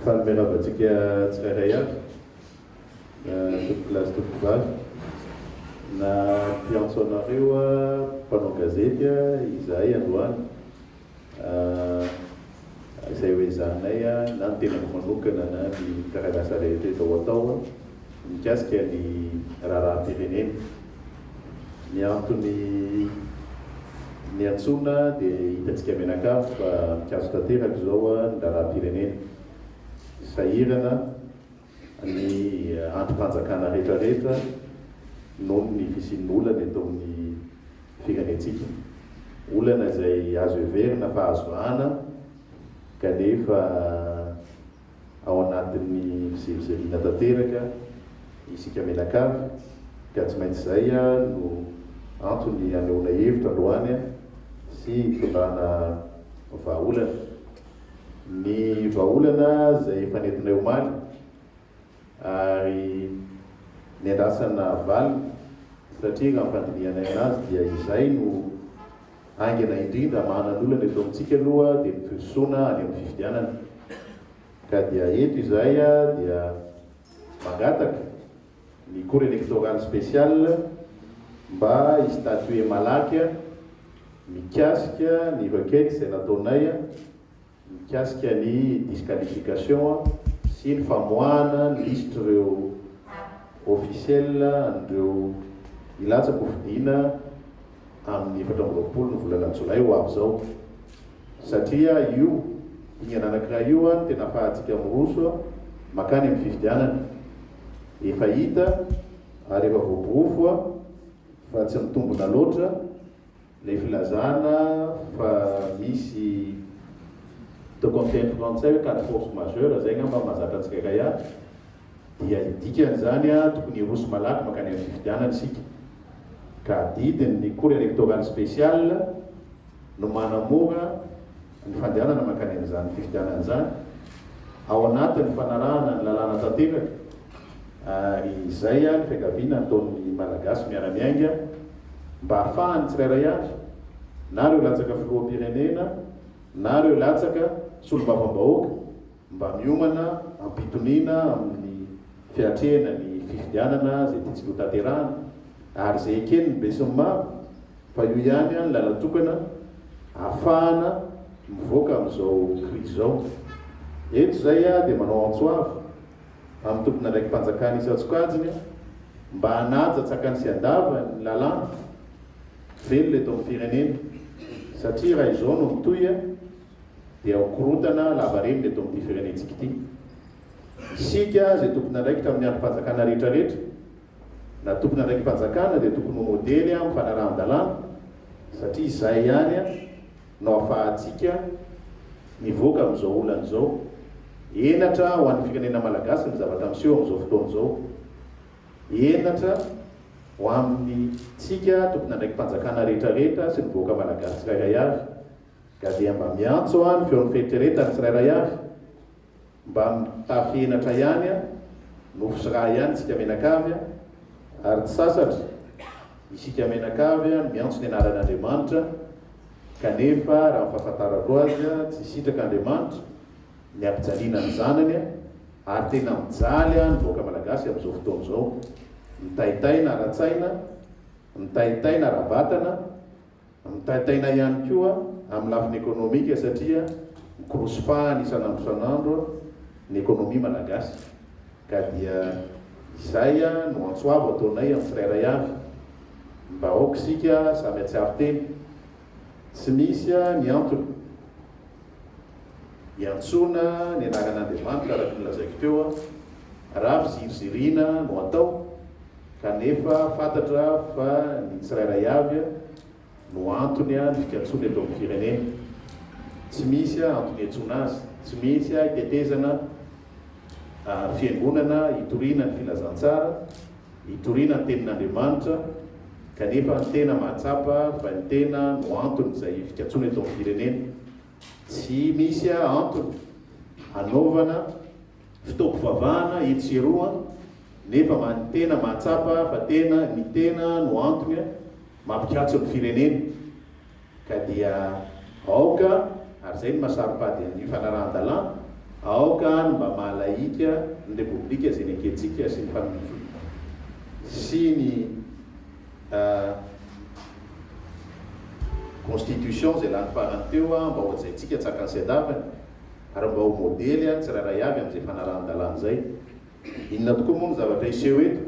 Faly miarahaba antsika tsirairay avy, na tompokolahy sy tompokovavy, na mpiantso anareo mpanao gazety izahay androany, izay ho ezahanay na ny tenako manokana na ny mpiara-miasa rehetra eto ao atao. mikasika ny raharaham-pirenena. Ny antony niantsoana dia hitantsika mianakavy fa mikatso tanteraka izao ny raharaham-pirenena. Sahirana ny andrim-panjakana rehetrarehetra noho ny fisian'ny olana eto amin'ny firenentsika. Olana izay azo heverina fa azo vahana kanefa. ao anatin'ny fizirivirina tanteraka isika mianakavy ka tsy maintsy izay no antony hanehoana hevitra androany sy hitondrana vahaolana. Ny vahaolana izay efa nentinay omaly ary niandrasana valiny satria raha ny fandinihanay anazy dia izay no Haingana indrindra mahanan olana eto amintsika aloha dia ny firosoana any amin'ny fifidianana. Ka dia eto izahay dia mangataka ny Cour Electorale Speciale mba hi-statuer malaky mikasika ny requête izay nataonay mikasika ny disqualification sy ny famoahana lisitry ireo officiel an'ireo hilatsaka ho fidiana amin'ny efatra amby roapolo ny volana jolay ho avy izao satria io dingana anankiray io no tena afahantsika miroso makany amin'ny fifidianana efa hita ary efa voaporofo fa tsy mitombina loatra Ilay filazana fa misy toko amin'ny teny frantsay hoe quatre forces majeures, izay angamba no mahazatra antsika Kaya, dia ny dikan'izany tokony hiroso malaky mankany amin'ny fifidianana isika, ka adidin'ny Cour electorale spéciale no manamora, ny fandehanana mankany amin'izany fifidianana izany ao anatin'ny fanarahana ny lalàna tanteraka ary izay ny fiangaviana nataon'ny Malagasy miara-miainga mba hahafahan'ny tsirairay avy na ireo latsaka filoham-pirenena na ireo latsaka solombavambahoaka mba miomana am-pitoniana amin'ny fiatrehana ny fifidianana izay tiantsika ho tanterahana ary izay eken'ny besin'ny maro fa io ihany ny làlana tokana ahafahana mivoaka amin'izao krizy izao. Eto izay aho dia manao antso avo amin'ny tompon'andraiki-panjakana isan-tsokajiny mba hanaja tsakany sy andavany ny lalàna velona eto amin'ny firenena satria raha izao no mitohy, dia ho korontana lavareny eto amin'ity firenentsika ity. Isika izay tompon'andraikitra amin'ny andrim-panjakana rehetrarehetra na tompon'andraiki-panjakana dia tokony ho modely amin'ny fanarahan-dalàna satria izay ihany no ahafahantsika mivoaka amin'izao olana izao. Henatra ho an'ny firenena malagasy ny zavatra miseho amin'izao fotoana izao. Henatra ho amintsika tompon'andraiki-panjakana rehetrarehetra sy ny vahoaka malagasy tsirairay avy. Ka dia mba miantso aho ny feon'ny fieritreretany tsirairay avy mba mitafy henatra ihany a! Nofo sy rà ihany isika mianakavy a! Ary tsy sasatra isika mianakavy no miantso ny anaran'Andriamanitra kanefa raha ny fahafantarako azy a! Tsy hisitraka Andriamanitra ny hampijaliana ny zanany a! Ary tena mijaly a! Ny vahoaka malagasy amin'izao fotoana izao mitaitaina ara-tsaina, mitaitaina ara-batana, Mitaintaina ihany koa amin'ny lafiny ekonomika satria mikorosy fahana isan'andro isan'andro ny ekonomia malagasy ka dia izay no antso avo ataonay amin'ny tsirairay avy mba aoka isika samy hatsiaro tena tsy misy ny antony hiantsoana ny anaran'Andriamanitra araka ny lazaiko teo raha fiziriziriana no atao Kanefa fantatra fa ny tsirairay avy no antony ny fikatsoana eto amin'ny firenena. Tsy misy antony hiantsoana azy, tsy misy hitetezana fiangonana hitoriana ny filazantsara, hitoriana ny tenin'Andriamanitra, kanefa ny tena mahatsapa fa ny tena no anton'izay fikatsoana eto amin'ny firenena. Tsy misy antony hanaovana. Fotoam-pivavahana etsy sy eroa nefa manintena mahatsapa fa tena ny tena no antony mampikatso ny firenena ka dia aoka ary izay no mahasaropady an'io fanarahan-dalàna aoka ary mba mahalahika ny repoblika izay nekentsika sy ny fanonofika sy ny constitution izay lany farany teo mba hohajaintsika tsakan'ny sedavany. ary mba ho modely ary tsirairay avy amin'izay fanarahan-dalàna izay. Inona tokoa moa no zavatra hiseho eto?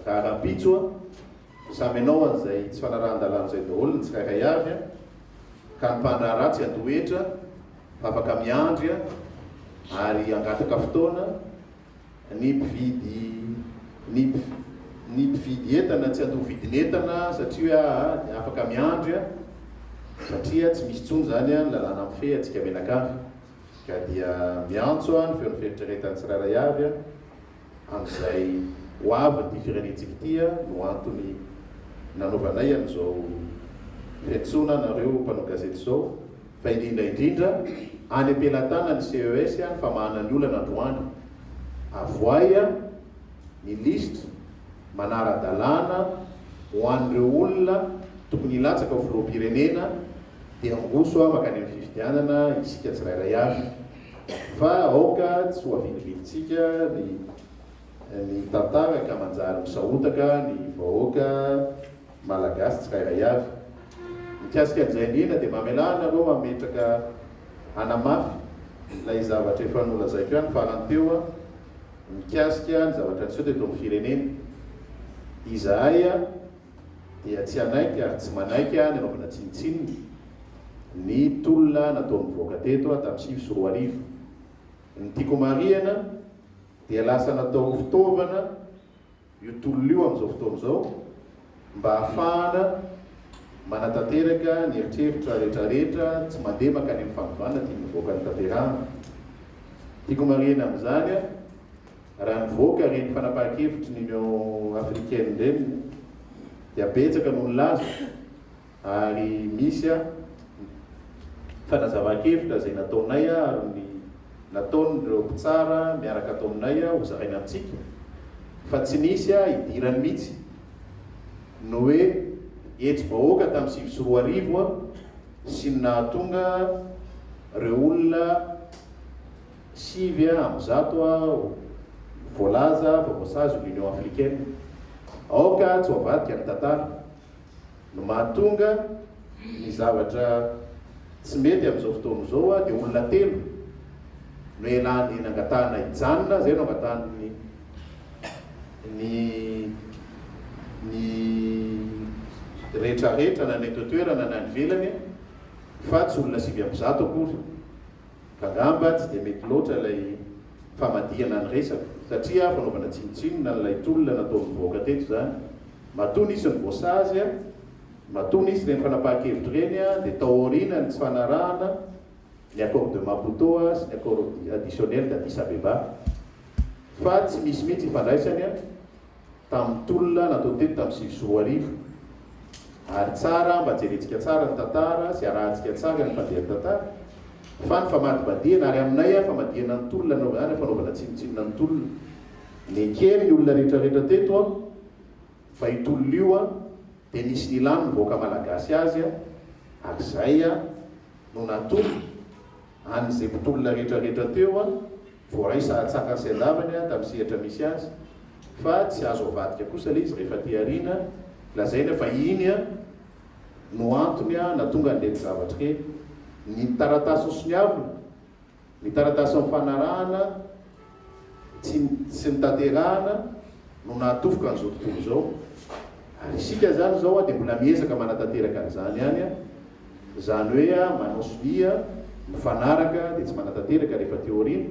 Raha rahampitso, samy hanao an'izay tsy fanarahan-dalàna izay daholo ny tsirairay avy, ka ny mpandraharaha tsy handoa hetra fa afaka miandry ary hangataka fotoana Ny mpividy ny ny mpividy entana tsy andoha vidin'entana satria hoe afaka miandry satria tsy misy intsony izany ny lalàna mifehy antsika mianakavy ka dia miantso ny feon'ny fieritreretan'ny tsirairay avy amin'izay ho avin'ity firenentsika ity no antony nanaovanay an'izao fiantsoana anareo mpanao gazety izao. fa indrindra indrindra any am-pelatanan'ny CES ny famahana ny olana androany. Avoahy ny lisitra manara-dalàna ho an'ireo olona tokony hilatsaka ho filoham-pirenena dia angoso mankany amin'ny fifidianana isika tsirairay avy fa aoka tsy ho avilibilintsika ny tantara ka manjary misahotaka ny vahoaka Malagasy tsirairay avy. Mikasika an'izay indrindra dia mamelà anareo hametraka hanamafy ilay zavatra efa nolazaiko ihany farany teo mikasika ny zavatra niseho teto amin'ny firenena. Izahay dia tsy hanaiky ary tsy manaiky ny hanaovana tsinontsinona ny tolona nataon'ny vahoaka teto tamin'ny sivy sy roa arivo. Ny tiako marihana dia lasa natao fitaovana. io tolona io amin'izao fotoana izao mba hahafahana manatanteraka ny eritreritra rehetrarehetra tsy mandeha mankany amin'ny fanovana tian'ny vahoaka notanterahana. Tiako marihina amin'izany raha nivoaka ireny fanapahan-kevitry ny Union Africaine ireny dia betsaka no nilaza ary misy a fanazavan-kevitra izay nataonay ary ny nataon'ireo mpitsara miaraka ato aminay ho zaraina amintsika fa tsy nisy a idirany mihitsy ny hoe hetsi-bahoaka tamin'ny sivy sy roa arivo a sy ny nahatonga ireo olona sivy a amby zato a voalaza fa voasazy ny Union Africaine. Aoka tsy ho avadika ny tantara. no mahatonga ny zavatra tsy mety amin'izao fotoana izao dia olona telo no ialany nangatahana hijanona izay no angatahan'ny ny ny rehetrarehetra na ny eto an-toerana na any ivelany fa tsy olona sivy amby zato akory ka angamba tsy dia mety loatra ilay famadihana ny resaka satria fanaovana tsinontsinona an'ilay tolona nataon'ny vahoaka teto izany Matoa nisy ny voasazy, matoa nisy ireny fanapahan-kevitra ireny dia tao aoriana ny tsy fanarahana ny Accord de Maputo sy ny Accord Additionnel d'Addis Abeba fa tsy misy mihitsy ifandraisany tamin'ny tolona natao teto tamin'ny sivy sy roa arivo ary tsara mba jerentsika tsara ny tantara sy arahantsika tsara ny fandehan'ny tantara fa ny famadibadihana ary aminay famadihana ny tolona anaovana izany fanaovana tsinontsinona ny tolona Neken'ny olona rehetra rehetra teto an, fa io tolona io an dia nisy nilan'ny vahoaka malagasy azy an, ary izay an no natolo an'izay mpitolona rehetra rehetra teo an, voaray sahatsakany sy andavany an tamin'ny sehatra misy azy, fa tsy azo avadika kosa le izy rehefa aty arina, lazaina fa iny an no antony an natonga an'ireto zavatra ireny, ny taratasy nosoniavina. Ny taratasy nifanarahana tsy tsy nitanterahana no nahatofika an'izao tontolo izao. Ary isika izany izao dia mbola miezaka manatanteraka an'izany ihany. Izany hoe manao sonia, mifanaraka dia tsy manatanteraka rehefa aty aoriana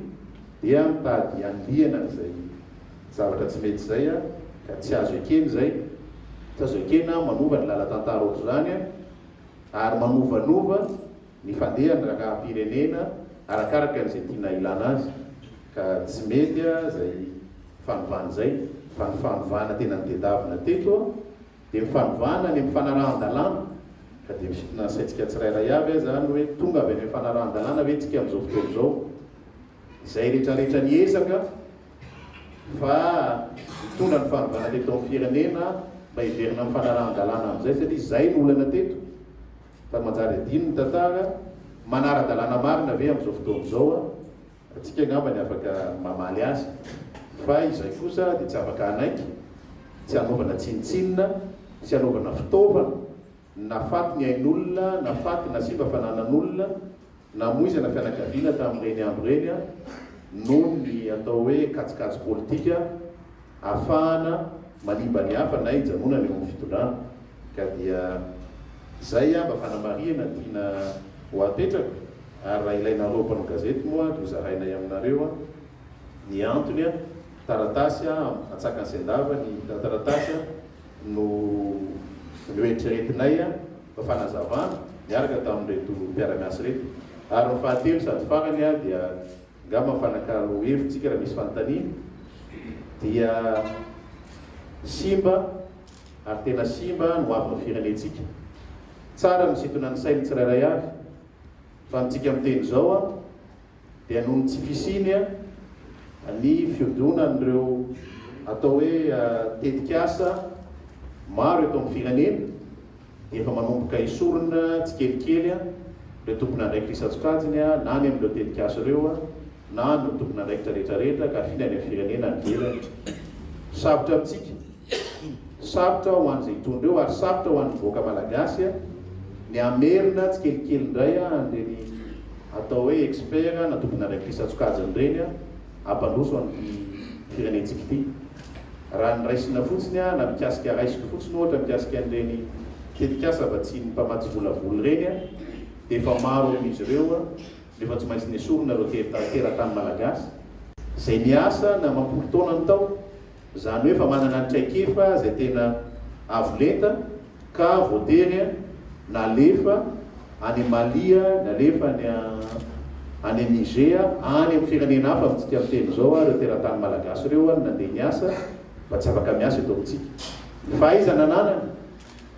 dia mitady hanilihana an'izay zavatra tsy mety izay ka tsy azo ekena izay. Tsy azo ekena manova ny lalan-tantara ohatr'izany ary manovanova Ny fandehan'ny rangaham-pirenena arakaraka izay tiana ilana azy ka tsy mety izay fanovana izay fa ny fanovana tena nitedavina teto dia ny fanovana any amin'ny fanarahan-dalàna ka dia misintona ny saintsika tsirairay avy aza ny hoe tonga avy any amin'ny fanarahan-dalàna ve tsika amin'izao fotoana izao? izay retraretra niezaka fa hitondra ny fanovana teto amin'ny firenena mba hiverina amin'ny fanarahan-dalàna amin'izay satria izay no olana teto Fa manjary adino ny tantara manara-dalàna marina ve amin'izao fotoana izao? Antsika angamba ny afaka mamaly azy. Fa izay kosa dia tsy afaka hanaiky, tsy hanaovana tsinontsinona, sy hanaovana fitaovana, na faty ny ain'olona, na faty na simba fananan'olona, Namoizana fianakaviana tamin'ireny andro ireny aho noho ny atao hoe kajikajy politika ahafahana manimba ny hafa na hijanonana eo amin'ny fitondrana. Ka dia izay aho mba fanamarihana tiana ho apetraka ary raha ilainareo mpanao gazety moa dia hozarainay aminareo ny antony. Taratasy atsakany sendava ny taratasy no noeritreretinay fa fanazavana niaraka tamin'ireto mpiara-miasa ireto. Ary ny fahatelo sady farany dia angamba mifanakalo hevitsika raha misy fanontaniana dia simba ary tena simba ny hoavin'ny firenentsika. Tsara ny misintona ny sain'ny tsirairay avy fa amintsika miteny izao dia noho ny tsy fisiany ny fiodonan'ireo atao hoe tetik'asa maro eto amin'ny firenena dia efa manomboka esorina tsikelikely ireo tompon'andraikitra isan-tsokajiny na ny amin'ireo tetik'asa ireo na ny tompon'andraikitra rehetrarehetra ka afindra any amin'ny firenena any ivelany. Sarotra amintsika. Iny. Sarotra ho an'izay hitondra eo ary sarotra ho an'ny vahoaka malagasy ny hamerina tsikelikely indray an'ireny atao hoe expert na tompon'andraikitrisy an-tsokajiny ireny hampandroso an'ity firenentsika ity. Raha ny raisina fotsiny na mikasika raisiko fotsiny ohatra mikasika an'ireny tetikasa vatsian'ny mpamatsy volavola ireny dia efa maro amin'izy ireo no efa tsy maintsy nesorina ireo teratany malagasy izay niasa na mampolo taona ny tao Izany hoe efa manana ny traikefa izay tena avo lenta ka voatery nalefa any Mali, nalefa any any Niger, any amin'ny firenena hafa amintsika miteny izao ireo teratany malagasy ireo no nandeha niasa mba tsy afaka miasa eto amintsika. Ny fahaizana ananany,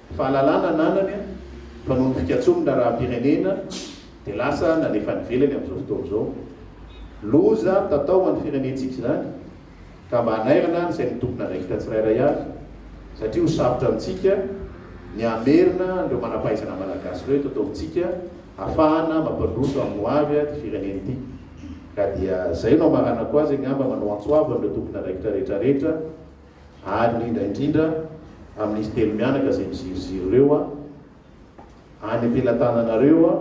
ny fahalalana ananany fa noho ny fikatsoan'ny raharaham-pirenena dia lasa nalefa any ivelany amin'izao fotoana izao. Loza mitatao ho an'ny firenentsika izany. ka mba hanairana ny sain'ny tompon'andraikitra tsirairay avy satria ho sarotra amintsika ny hamerina an'ireo manam-pahaizana malagasy ireo eto an-taontsika hafahana mampandroso amin'ny ho avy ity firenena ity ka dia izay no hamaranako azy angamba manao antso avo an'ireo tompon'andraikitra rehetrarehetra ary indrindra indrindra amin'izy telo mianaka izay miziriziry ireo Any am-pelatananareo a,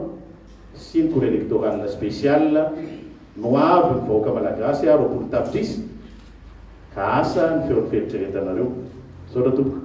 sy ny cour electorale spéciale no avy ny vahoaka malagasy a, roapolo tapitrisa, ka asa ny feon'ny fieritreretanareo. Misaotra tompoko.